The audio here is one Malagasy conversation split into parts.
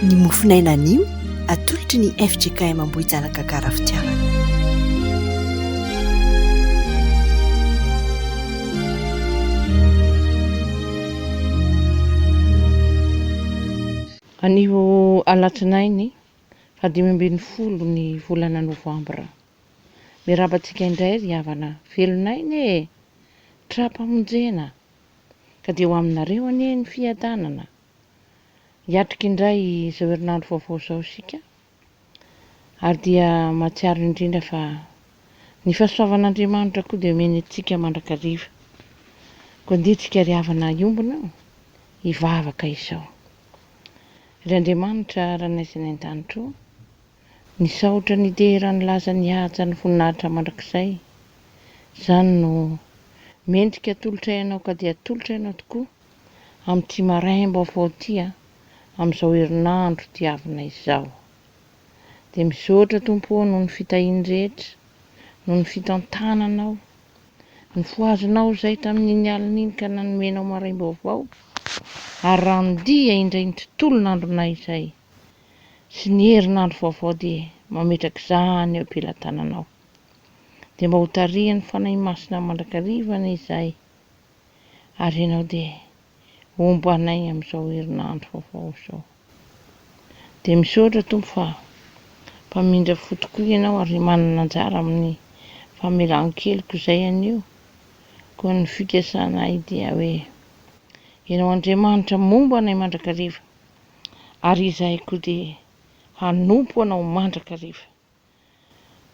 Ny mofonaina anio atolotry ny fjkm Ambohijalaga Garafitiavana. Anio alatsinainy faha dimy ambin'ny folo ny volana novambra. Miaraba antsika indray ry havana velon'aina e! Tra-pamonjena Ka dia ho aminareo anie ny fiadanana. Hiatrika indray izao herinandro vaovao izao isika, ary dia mahatsiaro indrindra fa ny fahasoavan'Andriamanitra koa dia omeny antsika mandrakariva. Koa andeha tsika ry havana hiombona hivavaka izao. Ry Andriamanitra Ranay izay any an-danitra ô. Nisaotra nitehera ny laza nihaja ny voninahitra mandrakizay. Izany no mendrika atolotray anao ka dia atolotray anao tokoa amin'ity maraim-baovao ity a, amin'izao herinandro diavina izao. Dia misaotra Tompo ô noho ny fitahiany rehetra, noho ny fitantananao, nifohazanao izay tamin'iny alina iny ka nanomenao maraim-baovao ary randia indray ny tontolon'andronay izay. sy ny herinandro vaovao dia mametraka izany eo am-pelatananao. Dia mba hotarihan'ny Fanahy Masina mandrakariva anie izay, ary ianao dia hombanay amin'izao herinandro vaovao izao. Dia misaotra Tompo fa mpamindra fo tokoa ianao ary manana anjara amin'ny famelan-keloka izay anio. Koa ny fikasanay dia hoe, Ianao Andriamanitra momba anay mandrakariva. ary izahay koa dia hanompo Anao mandrakariva.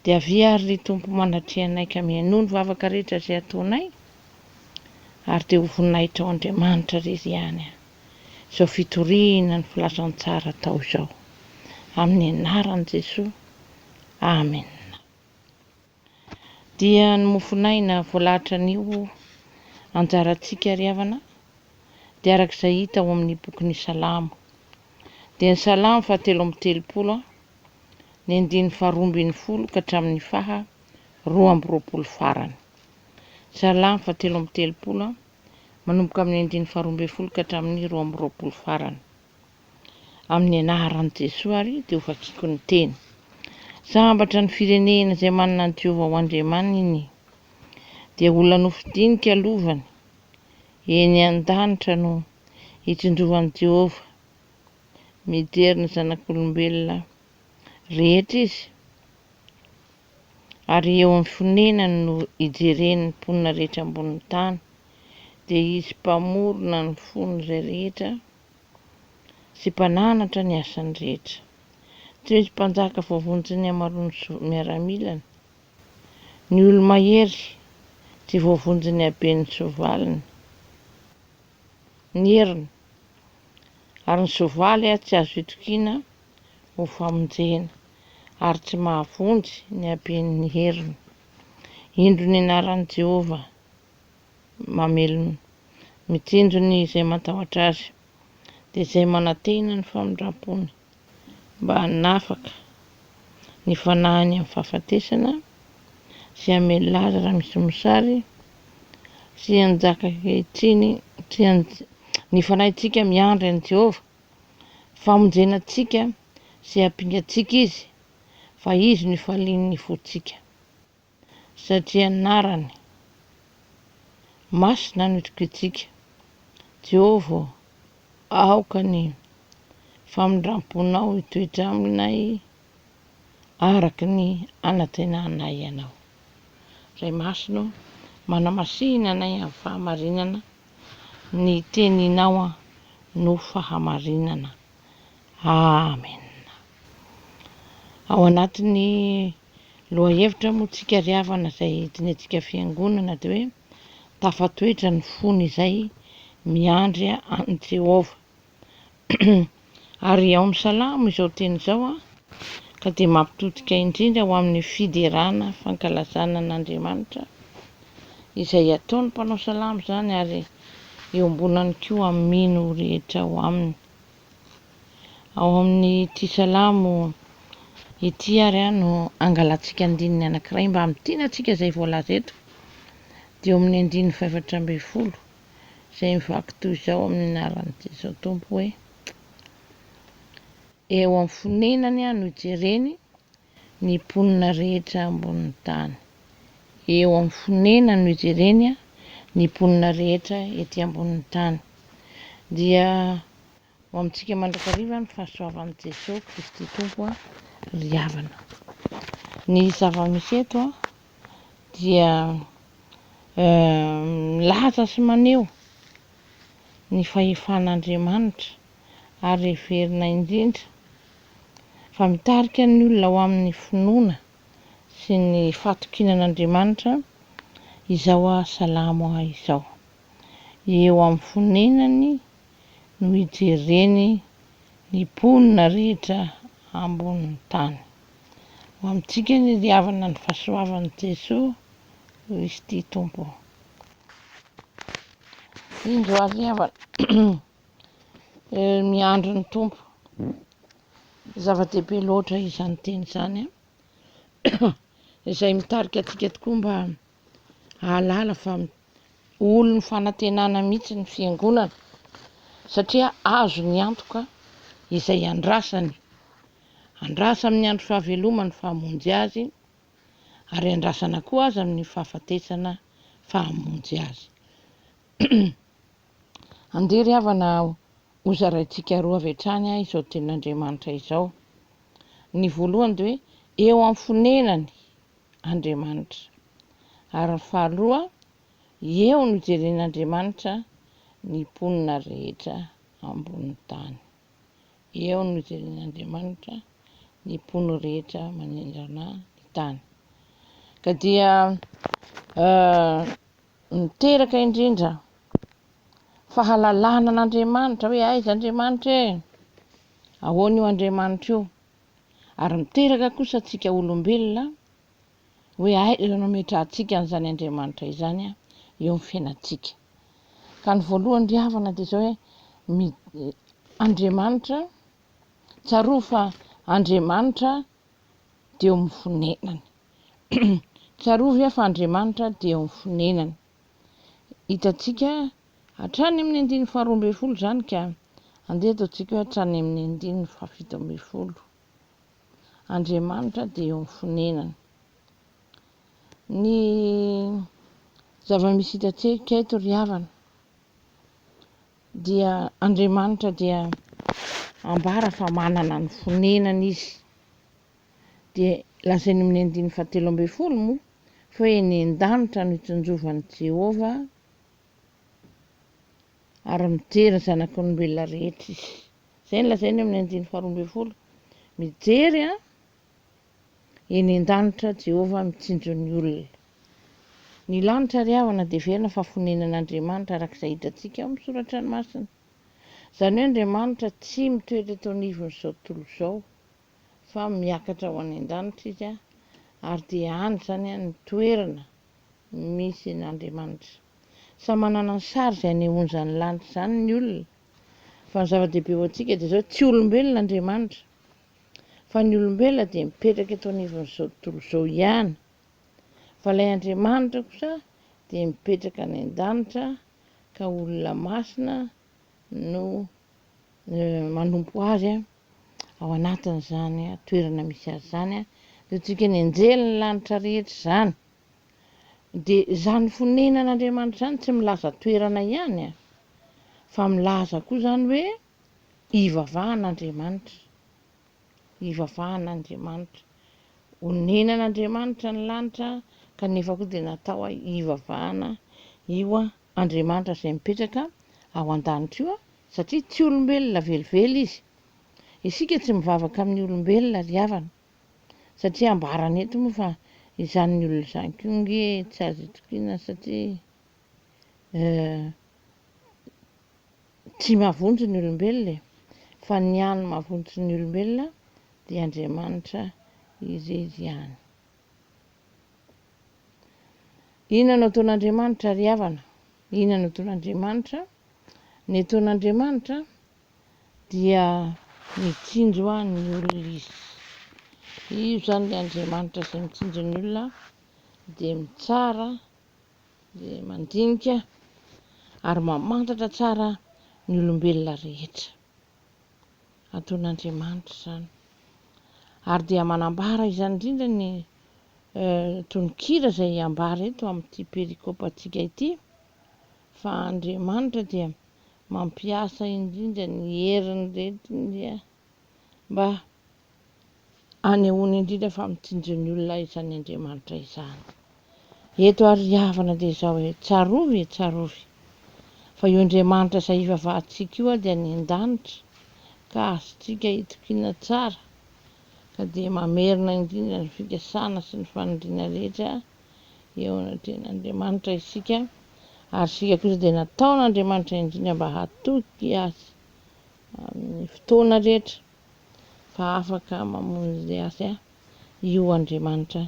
Dia avia àry ry Tompo manatreha anay ka mihainoa ny vavaka rehetra izay ataonay, ary dia ho voninahitrao Andriamanitra irery ihany izao fitoriana ny filazantsara atao izao. Amin'ny anaran'i Jesoa. Amena. Dia ny mofon'aina voalatran'io anjarantsika ry havana dia araka izay hita ao amin'ny bokin'ny Salamo. Dia ny Salamo faha telo amby telopolo, ny andininy faha roa ambin'ny folo ka hatramin'ny faha roa amby roapolo farany. Salamo faha telo amby telopolo, manomboka amin'ny andininy faha roa ambin'ny folo ka hatramin'ny roa amby roapolo farany. amin'ny anaran'i Jesoa ary dia ho vakiako ny teny. Sambatra ny firenena izay manana an'i Jehovah ho Andriamaniny, dia olona nofidinika lovany eny an-danitra no hitsinjovan'i Jehovah. Mijery ny zanak'olombelona rehetra izy, ary eo amin'ny fonenany no ijereny ny mponina rehetra ambonin'ny tany, dia izy Mpamorona ny fon'izay rehetra. sy mpananatra ny asany rehetra. Tsy misy mpanjaka voavonjy ny hamaroan'ny miaramilany. Ny olo-mahery tsy voavonjy ny haben'ny soavaliny. Ny heriny ary ny soavaly tsy azo itokiana ho famonjena, ary tsy mahavonjy ny haben'ny heriny. Indro ny anaran'i Jehovah. mamelona, mitsinjo ny izay matahotra azy, dia izay manantena ny famindram-pony, mba hanafaka ny fanahiny amin'ny fahafatesana, sy hamelona azy raha misy mosary, sy hanjaka ankehitriny, sy ny fanahintsika miandry an'i Jehovah, famonjena antsika sy hampinga antsika izy, fa izy no ifalian'ny fontsika. Satria anarany masina no itokiantsika, Jehovah ô, aoka ny famindram-ponao hitoetra aminay araka ny anantenanay ianao. Ray Masina ô, manamasihina anay amin'ny fahamarinana, ny Teninao no fahamarinana. Amena. Ao anatin'ny Lohahevitra moa tsika ry havana izay entinetsika fiangonana dia hoe tafatoetra ny fony izay miandry an'i Jehovah. Ary ao amin'ny Salamo izao teny izao ka dia mampitodika indrindra ho amin'ny fiderana fankalazana an'Andriamanitra izay ataon'ny mpanao salamo izany ary iombonany koa amin'ny mino rehetra ao aminy. Ao amin'ity Salamo ity ary no angalantsika andininy anankiray mba hamintina antsika izay voalaza eto, dia ao amin'ny andininy fahefatra ambin'ny folo izay mivaky toy izao amin'ny anaran'i Jesoa Tompo hoe, Eo amin'ny fonenany aho no ijereny, ny mponina rehetra ambonin'ny tany. Eo amin'ny fonenany no ijereny ny mponina rehetra ety ambonin'ny tany. Dia ho amintsika mandrakariva ny fahasoavan'i Jesoa Kristy Tompo ry havana. Ny zava-misy eto dia milaza sy maneho ny fahefan'Andriamanitra ary heverina indrindra fa mitarika ny olona ho amin'ny finoana sy ny fahatokiana an'Andriamanitra izao aho salamo aho izao. Eo amin'ny fonenany no ijereny ny mponina rehetra ambonin'ny tany. Ho amintsika anie ry havana ny fahasoavan'i Jesoa Kristy Tompo. Indro ary ry havana, eh, miandry ny Tompo. Zava-dehibe loatra izany teny izany, izay mitarika antsika tokoa mba hahalala fa olon'ny fanantenana mihitsy ny fiangonana, satria azo ny antoka izay andrasany. Andrasa amin'ny andro fahavelomany fahamonjy azy, ary andrasana koa aza amin'ny fahafatesana fahamonjy azy. Andeha ry havana hozaraintsika roa avy hatrany izao tenin'Andriamanitra izao. Ny voalohany dia hoe eo amin'ny fonenany Andriamanitra. Ary ny faharoa, eo no hijeren'Andriamanitra ny mponina rehetra ambonin'ny tany. Eo no hijeren'Andriamanitra ny mpono rehetra manendrana ny tany. Ka dia Niteraka indrindra fahalalana an'Andriamanitra hoe aiza Andriamanitra e? Ahoana io Andriamanitra io? Ary miteraka kosa antsika olombelona hoe aiza no ametrahantsika an'izany Andriamanitra izany eo amin'ny fiainantsika. Ka ny voalohany ry havana dia izao hoe Andriamanitra, tsarovy fa Andriamanitra dia eo amin'ny fonenany. Tsarovy aho fa Andriamanitra dia eo amin'ny fonenany. Hitantsika hatrany amin'ny andininy faharoa ambin'ny folo izany ka andeha ataontsika hoe hatrany amin'ny andininy fahafito ambin'ny folo. Andriamanitra dia eo amin'ny fonenany. Ny zava-misy hitantsika eto ry havana Dia Andriamanitra dia ambara fa manana ny fonenany Izy. Dia lazainy amin'ny andininy fahatelo ambin'ny folo moa fa eny an-danitra no itsinjovan'i Jehovah ary mijery ny zanak'olombelona rehetra Izy. Izay no lazainy amin'ny andininy faharoa ambin'ny folo. Mijery an! Eny an-danitra, Jehovah mitsinjo ny olona. Ny lanitra ary havana dia heverina fa fonenan'Andriamanitra, araka izay hitantsika ao amin'ny Soratra Masina. Izany hoe Andriamanitra tsy mitoetra eto anivon'izao tontolo izao, fa miakatra ho any an-danitra izy, ary dia any izany ny toerana misy an'Andriamanitra. Samy manana ny sary izay anehoan'izany lanitra izany ny olona, fa ny zava-dehibe ho antsika dia izao, tsy olombelona Andriamanitra. fa ny olombelona dia mipetraka eto anivon'izao tontolo izao ihany, fa ilay Andriamanitra kosa dia mipetraka any an-danitra ka olona masina no manompo azy ao anatin'izany toerana misy azy izany, ataontsika ny anjelin'ny lanitra rehetra izany, dia izany fonenan'Andriamanitra izany tsy milaza toerana ihany fa milaza koa izany hoe. Hivavaha an'Andriamanitra. Hivavaha an'Andriamanitra. Onenan'Andriamanitra ny lanitra kanefa koa dia natao hivavahana io Andriamanitra izay mipetraka ao an-danitra io satria tsy olombelona velively izy. Isika tsy mivavaka amin'ny olombelona ry havana satria ambarany eto moa fa izany ny olona izany koa nge tsy azo itokiana satria eh. Tsy mahavonjy ny olombelona e, fa ny hany mahavonjy ny olombelona dia Andriamanitra irery ihany. Inona no ataon'Andriamanitra ry havana? Inona no ataon'Andriamanitra? Ny ataon'Andriamanitra dia mitsinjo an ny olona izy. Io izany ilay Andriamanitra izay mitsinjo ny olona dia mitsara Dia mandinika ary mamantatra tsara ny olombelona rehetra. Ataon'Andriamanitra izany. Ary dia manambara izany indrindra ny tononkira izay ambara eto amin'ity perikopantsika ity, fa Andriamanitra dia mampiasa indrindra ny heriny rehetra. mba hanehoany indrindra fa mitsinjo ny olona izany Andriamanitra izany. Eto ary ry havana dia izao hoe, tsarovy e, tsarovy, fa io Andriamanitra izay hivavahantsika io dia any an-danitra, ka azontsika itokiana tsara, ka dia mamerina indrindra ny fikasana sy ny faniriana rehetra eo anatrehan'Andriamanitra isika, ary isika kosa dia nataon'Andriamanitra indrindra mba hatoky Azy amin'ny fotoana rehetra fa afaka mamonjy azy io Andriamanitra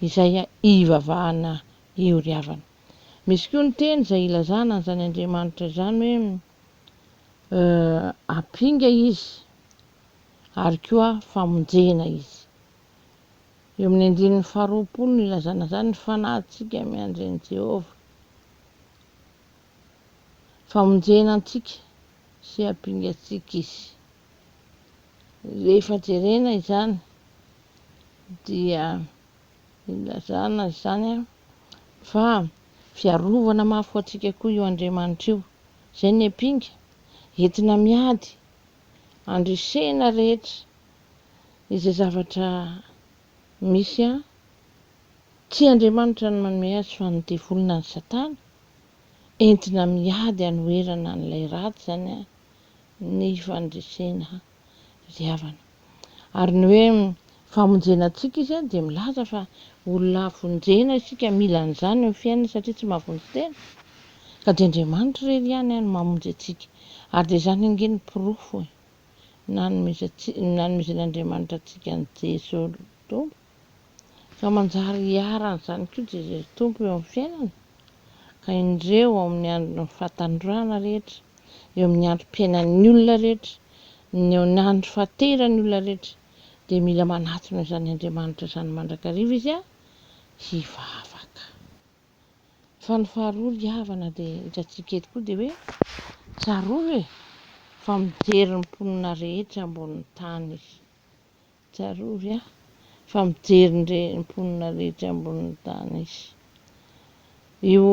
izay ivavahana io ry havana. Misy koa ny teny izay ilazana an'izany Andriamanitra izany hoe ampinga izy ary koa famonjena izy. Eo amin'ny andininy faharoapolo no ilazana izany ny fanahintsika miandry an'i Jehovah. Famonjena antsika. sy hampingatsiaka izy. Rehefa jerena izany dia ilazana izany fa fiarovana mafy ho antsika koa io Andriamanitra io. Izay ny ampinga, entina miady handresena rehetra izay zavatra misy. Tsy Andriamanitra no manome azy fa ny devoly na ny satana. entina miady hanoherana an'ilay ratsy izany an, ny fandresena ry havana. Ary ny hoe famonjena antsika izy dia milaza fa olona havonjena isika, mila an'izany eo amin'ny fiainana satria tsy mahavonjy tena, ka dia Andriamanitra irery ihany an no mamonjy antsika. Ary dia izany ange ny porofo e, nanomezantsika, nanomezen'Andriamanitra antsika an'i Jeso Tompo, ka manjary hiharan'izany koa Jesosy Tompo eo amin'ny fiainana, ka indreo ao amin'ny andron'ny fahatandroana rehetra, eo amin'ny androm-piainan'ny olona rehetra, ny eo amin'ny andro fahateran'ny olona rehetra, dia mila manatona izany Andriamanitra izany mandrakariva izy an, hivavaka. Fa ny faharoa ry havana dia hitantsika eto koa dia hoe, tsarovy e, fa mijery ny mponina rehetra ambonin'ny tany izy, Tsarovy aho fa mijery ny mponina rehetra ambonin'ny tany Izy. Io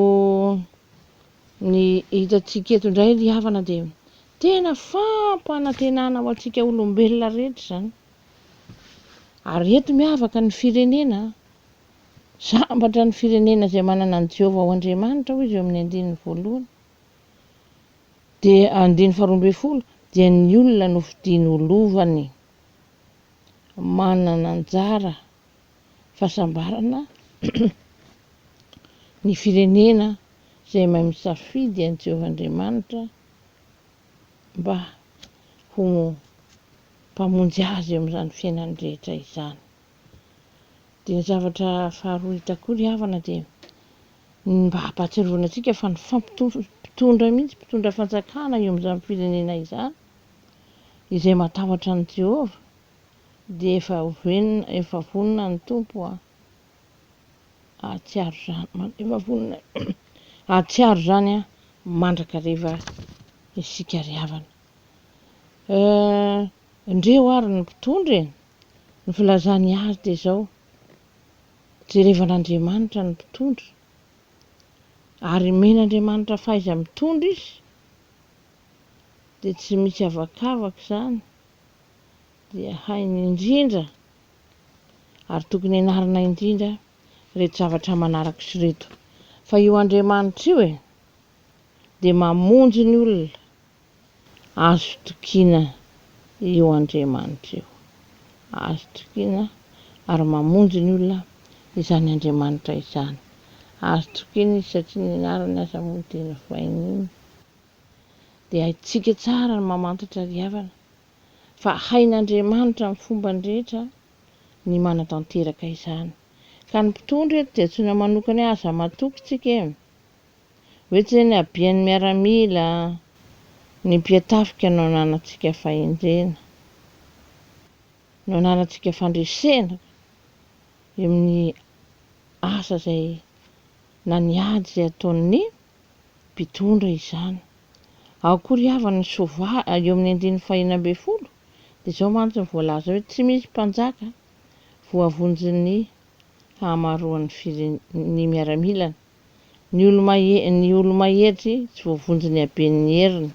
ny hitantsika eto indray ry havana dia tena fampanantenana ho antsika olombelona rehetra izany. Ary eto miavaka ny firenena, sambatra ny firenena izay manana an'i Jehovah ho Andriamanitra hoy izy eo amin'ny andininy voalohany, dia andininy faharoa ambin'ny folo, dia ny olona nofidiny ho lovany. manana anjara fahasambarana ny firenena izay mahay misafidy an'i Jehovah Andriamanitra mba ho Mpamonjy azy eo amin'izany fiainany rehetra izany. Dia ny zavatra faharoa hitako koa ry havana dia ny mba hampahatsiarovana antsika fa ny fampitondra mihitsy, mpitondra fanjakana eo amin'izany firenena izany Izay matahotra an'i Jehovah, dia efa vonona, efa vonona ny Tompo hahatsiaro izany, efa vonona hahatsiaro izany mandrakariva isika ry havana. Ndreo ary ny mpitondra e! Ny filazany azy dia izao, jerevan'Andriamanitra ny mpitondra, ary omen'Andriamanitra fahaiza-mitondra izy, dia tsy misy avakavaka izany dia hainy indrindra ary tokony hianarana indrindra ireto zavatra manaraka ireto fa io Andriamanitra io e dia mamonjy ny olona azo tokiana io Andriamanitra io azo tokiana ary mamonjy ny olona izany Andriamanitra izany azo tokiana izy satria ny anarany aza moa dia novaininy dia haintsika tsara ny mamantatra ry havana fa hain'Andriamanitra amin'ny fombany rehetra ny manatanteraka izany ka ny mpitondra eto dia antsoina manokana hoe aza matoky tsika e! hoe tsy ny habian'ny miaramila ny mpiatafika no ananantsika fahendrena no ananantsika fandresena eo amin'ny asa izay na ny ady izay ataon'ny mpitondra izany. Ao koa ry havana ny soavaly, eo amin'ny andininy fahenina ambin'ny folo dia izao mantsy no voalaza hoe tsy misy mpanjaka voavonjin'ny hahamaroan'ny firen'ny miaramilany, ny olo-mahery ny olo-mahery tsy voavonjin'ny haben'ny heriny,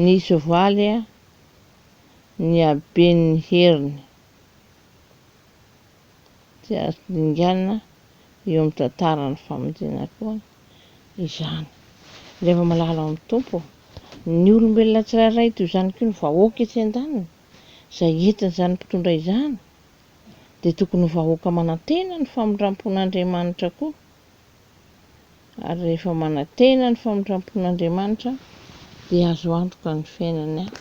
ny soavaly ny haben'ny heriny. Tsy azo dinganina eo amin'ny tantaran'ny famonjena koa izany. Rehefa malala ao amin'ny Tompo ny olombelona tsirairay, toy izany koa ny vahoaka etsy an-daniny, izay entin'izany mpitondra izany, dia tokony ho vahoaka manantena ny famindram-pon'Andriamanitra koa. Ary rehefa manantena ny famindram-pon'Andriamanitra dia azo antoka ny fiainany any.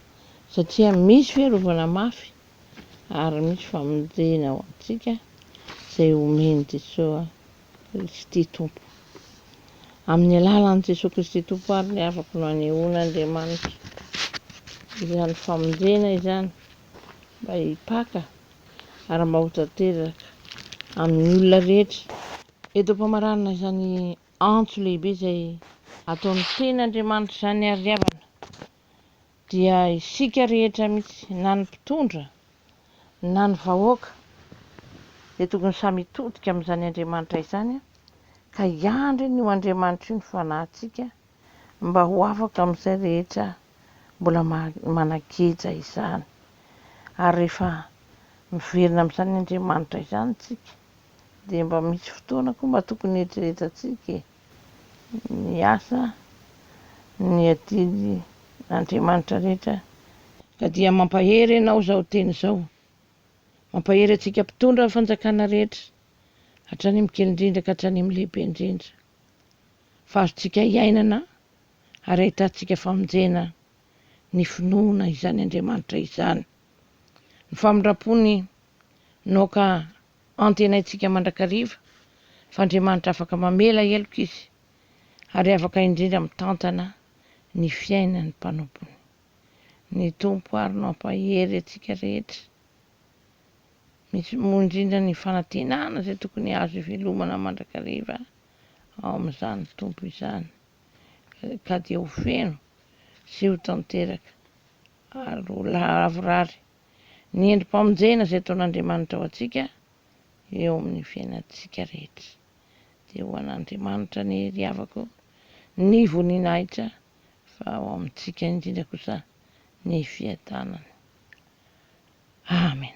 Satria misy fiarovana mafy ary misy famonjena ho antsika izay homen'i Jesoa Kristy Tompo. Amin'ny alalan'i Jesoa Kristy Tompo ary no afaka no anehoan'Andriamanitra izany famonjena izany mba hipaka ary mba ho tanteraka amin'ny olona rehetra. Eto am-pamaranana izany antso lehibe izay ataon'ny Tenin'Andriamanitra izany ary havana. Dia isika rehetra mihitsy, na ny mpitondra, na ny vahoaka, dia tokony samy hitodika amin'izany Andriamanitra izany, ka hiandry an'io Andriamanitra io ny fanahintsika, mba ho afaka amin'izay rehetra mbola manan-keja izany. Ary rehefa miverina amin'izany Andriamanitra izany isika, dia mba misy fotoana koa mba tokony hieritreretatsika e! ny asa, ny adidy n'Andriamanitra rehetra. Ka dia mampahery ianao izao teny izao. Mampahery antsika mpitondra ny fanjakana rehetra, hatrany amin'ny kely indrindra ka hatrany amin'ny lehibe indrindra. Fa azontsika hiainana ary ahitantsika famonjena ny finoana izany Andriamanitra izany. Ny famindram-pony naoka Antenaintsika mandrakariva fa Andriamanitra afaka mamela heloka Izy, ary afaka indrindra mitantana ny fiainan'ny mpanompony. Ny Tompo àry no hampahery antsika rehetra, misy moa indrindra ny fanantenana izay tokony azo ivelomana mandrakariva ao amin'izany Tompo izany, ka dia ho feno sy ho tanteraka ary ho lavorary. ny endri-pamonjena izay ataon'Andriamanitra ho antsika eo amin'ny fiainantsika rehetra. Dia ho an'Andriamanitra anie ry havako ny voninahitra fa ho amintsika indrindra kosa ny fiadanana. Amen.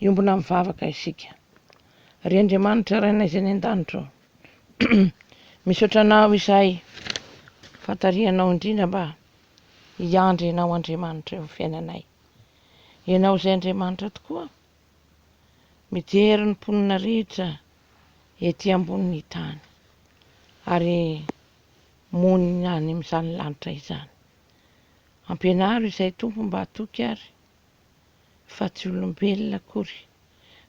Hiombona mivavaka isika. Ry Andriamanitra Rainay izay any an-danitra ô, misaotra Anao izahay fa tarihanao indrindra mba hiandry Ianao Andriamanitra eo amin'ny fiainanay. Ianao izay Andriamanitra tokoa mijery ny mponina rehetra ety ambonin'ny tany ary monina any amin'izany lanitra izany. Ampianaro izay Tompo mba hatoky ary fa tsy olombelona akory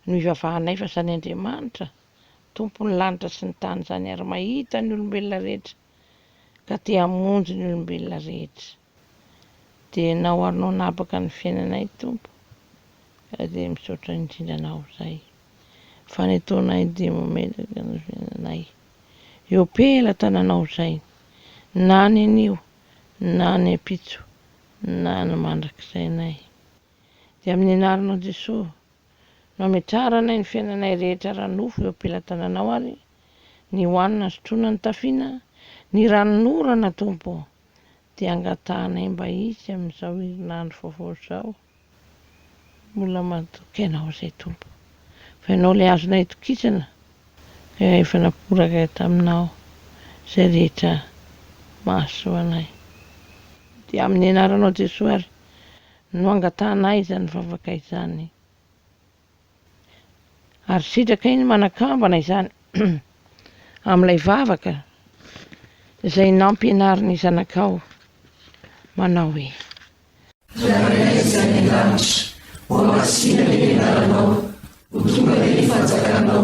no hivavahanay fa izany Andriamanitra tompon'ny lanitra sy ny tany izany ary mahita ny olombelona rehetra ka te hamonjy ny olombelona rehetra dia na ho anao nabaka ny fiainanay tompo ka dia misaotra indrindra anao izay fa ny ataonay dia mametraka ny fiainanay eo pelatananao izay na nenio na nempitso na ny mandrakizainay. Dia amin'ny anaranao Jesoa no ametraranay ny fiainanay rehetra ara-nofo eo am-pelatananao ary ny hohanina sotroina nitafiana ny ranon'orana Tompo o, dia angatahanay mba hisy amin'izao herinandro vaovao izao. Mbola mahatoky Ianao izay Tompo, fa Ianao ilay azonay itokisana, ka efa naporaka taminao izay rehetra mahasoa anay. Dia amin'ny Anaranao Jesoa ary no angatahanay izany vavaka izany. ary sitraka iny manakambana izany amin'ilay vavaka izay nampianarin'ny zanakao manao hoe Rainay izay any an-danitra, hohamasina ny anaranao, ho tonga dia ny fanjakanao,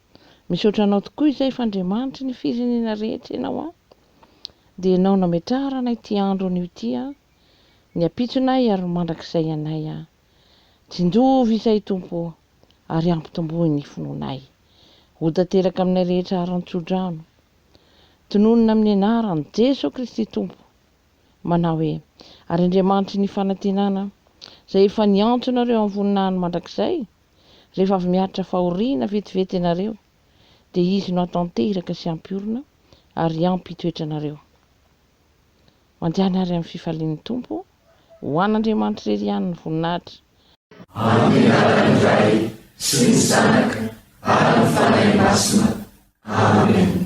Misaotra anao tokoa izay fa Andriamanitry ny firenena rehetra ianao an! Dia ianao nametrahara anay ity andro anio ity an! Ny ampitsonay ary ny mandrakizay anay an! Tsinjovy izay Tompo o! Ary ampitomboy ny finoanay! Ho tanteraka aminay rehetra haran-tsodrano! Tononina amin'ny anaran'i Jeso Kristy Tompo! Manao hoe, Ary Andriamanitry ny fanantenana izay efa niantso anareo amin'ny voninahiny mandrakizay, Rehefa avy miaritra fahoriana vetivety ianareo, dia Izy no hatanteraka sy hampiorina ary hampitoetra anareo. Mandehana àry amin'ny fifalian'ny Tompo, ho an'Andriamanitra irery ihany ny voninahitra. Amin'ny anaran'ny Ray sy ny Zanaka ary ny Fanahy Masina. Amen.